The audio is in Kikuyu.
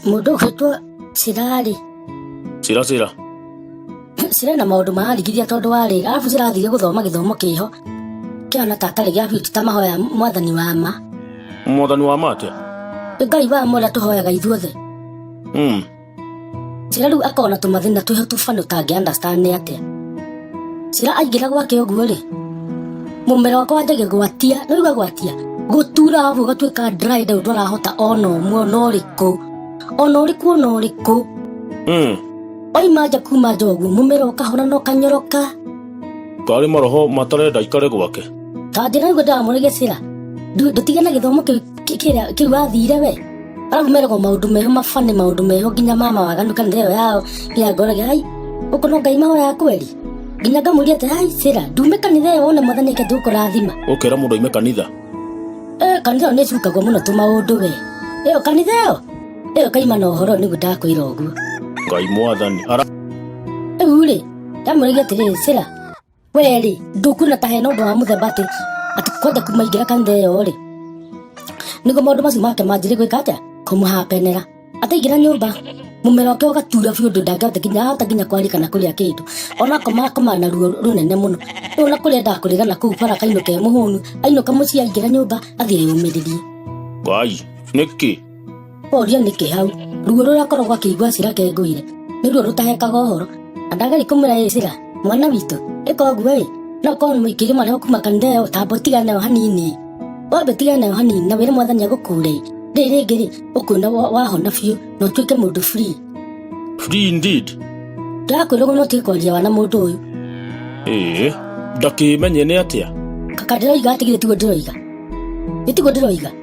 Mũndũ ũgĩtwo Cirarĩ. Cira cira. Cira na maũndũ mararigithia tondũ wa rĩrĩ, arabu Cira athire gũthoma gĩthomo kĩho kĩhana ta atarĩ gĩa biti ta mahoya mwathani wa ma. Mwathani wa ma atĩa? Ngai wa ma ũrĩa tũhoyaga ithuothe. Mm. Cira rĩu akona tũmathĩna twĩho tũbana ũtangĩ understand nĩ atĩa. Cira aingĩra gwake ũguo rĩ, mũmera wakwa wanjagia gwatia, nĩ ũigua gwatia, gũtura ũguo ũgatuĩka dry down ndwarahota ona ũmwe ona ũrĩkũ, ona ũrĩkũ ona ũrĩkũ. Mm. Oima nja kuma nja ũguo, mũmera ũkahona na ũkanyoroka. Karĩ maroho matarenda ikare gwake. Ta njĩra ũguo ndĩramũrĩgĩcĩra, ndũ- ndũtige na gĩthomo kĩu kĩrĩa kĩu athire we aragumeragwo maundu meho mabane maundu meho nginya mama waganu kanitha ĩyo yao nginya ngorage ai ũkũ no ngai mahoya kweri nginya ngamũria atĩ ai sira ndume kanitha ĩyo wone mwathani eke ndũkũrathima ũkera mũndũ aime kanitha Eh, kanitha ĩyo nĩ ĩcukagwo mũno tũmaũndũ we ĩyo kanitha ĩyo ĩyo kaima na ũhoro nĩguo ndakwĩra ũguo ngai mwathani ara rĩu rĩ ndamũrĩgia atĩrĩrĩ sira we rĩ ndũkuona ta hena ũndũ wa mũthemba atĩ atĩ kwenda kumaingĩra kanitha ĩyo rĩ nĩguo maũndũ macio make manjĩrĩ gwĩka atĩa kũmũhapenera ataingĩra nyũmba mũmero wake ũgatura biũ ũndũ ndangĩhota nginya ahota nginya kwarĩa kana kũrĩa kĩndũ ona akoma akoma na ruo rũnene mũno rĩu na kũrĩa endaga kũrĩra na kũu bara akainũka e mũhũnu ainũka mũciĩ aingĩra nyũmba athiĩ eyũmĩrĩrie ngai nĩkĩ Oria nĩkĩ hau ruo rũrĩa akoragwo akĩigua cira kengũire nĩ ruo rũtahekaga ũhoro na ndageri kũmwĩra ĩ cira mwana witũ ĩka ũguo ĩ no korwo nĩ mũingĩri marĩa kuma kanitha ĩyo tambo tiga nayo hanini ĩ wambe tiga nayo hanini na wĩre mwathani agũkũre ĩ rĩrĩ rĩngĩ rĩ ũkuona wa- wahona biũ na ũtuĩke mũndũ free Free indeed. ndĩrakwĩra ũguo no tuĩke kwaria wana mũndũ ũyũ Ee, ndakĩmenye nĩ atĩa. kaka ndĩroiga atigire tiguo ndĩroiga nĩ tiguo ndĩroiga